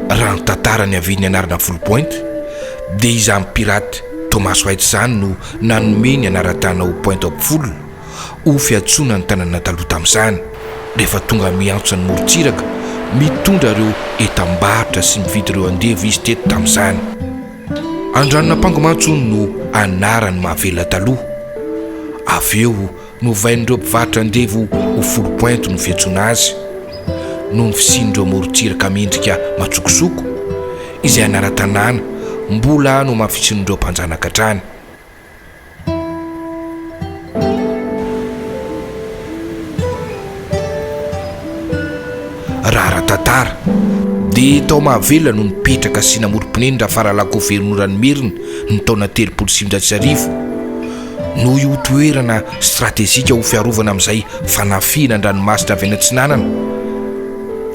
Raha ny tantara niavian'ny anarana Foul Point dia izany pirate Thomas White izany no nanome ny anaran-tàna ho Point of Foul ho fiantsoana ny tanàna taloha tamin'izany rehefa tonga miantso an'i morontsiraka mitondra ireo entam-barotra sy mividy ireo andevo izy teto tamin'izany. Andranon'Ampango mantsy hono no anaran'ny mahavelona taloha. Avy eo. Novain'ireo mpivarotra andevo ho four point no fiantsoana azy, noho ny fisian'ireo morontsiraka miendrika matsokosoko, izay anaran-tanàna mbola nohamafisin'ireo mpanjanaka hatrany. Raha ara-tantara, dia tao Mahavelona no nipetraka sy namorom-ponen'i Rafaralakoveronora Nimerina ny taona telopolo sy sivinjato sy arivo. Noho io toerana stratejika ho fiarovana amin'izay fanafihana an-dranomasina avy any atsinanana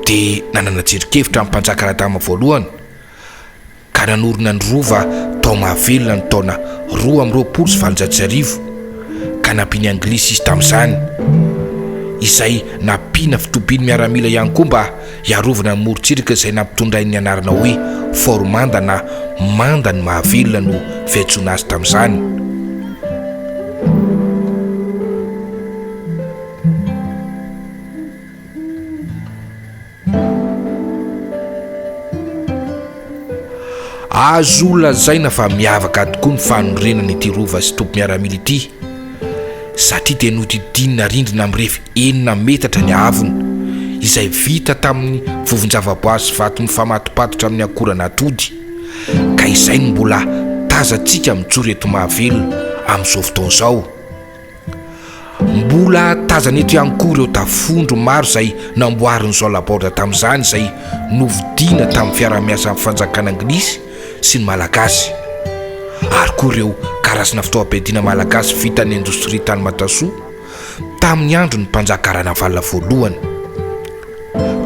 dia nanana jerin-kevitra ny Mpanjaka Radama voalohany ka nanorina ny Rova tao Mahavelona ny taona roa amby roapolo sy valonjato sy arivo ka nampian'ny Anglisy izy tamin'izany izay nampiana fitobiany miaramila ihany koa mba Hiarovana ny morontsiraka izay nampitondrainy ny anarana hoe Fort Manda na Manda ny Mahavelona no fiantsoana azy tamin'izany. Azo lazaina fa miavaka tokoa ny fanorenana ity rova sy toby miaramila ity satria dia nodidinina rindrina mirefy enina metatra ny haavony izay vita tamin'ny vovon-javaboary sy vato mifamatopatotra amin'ny akoran'atody ka izay no mbola tazantsika mijoro eto Mahavelona amin'izao fotoana izao. Mbola tazana eto ihany koa ireo tafondro maro izay namboarin'i Jean Laborde tamin'izany izay novidiana tamin'ny fiaraha-miasan'ny fanjakana anglisy sy ny malagasy ary koa ireo karazana fitaovam-piadiana malagasy vitan'ny indostria tany Matasoa tamin'ny andron'ny mpanjaka Ranavalona voalohany.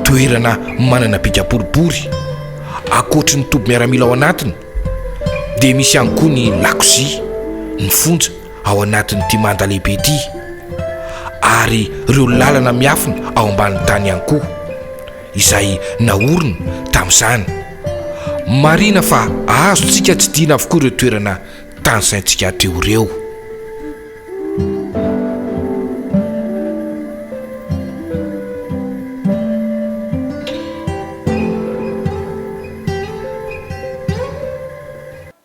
Toerana manana bika boribory, ankoatry ny toby miaramila ao anatiny dia misy ihany koa ny lakozia, ny fonja. ao anatin'ity manda lehibe ity ary ireo lalana miafina ao ambanin'ny tany ihany koa izay naorina tamin'izany. Marihina fa azontsika tsidihina avokoa ireo toerana tany saintsika hatreo ireo.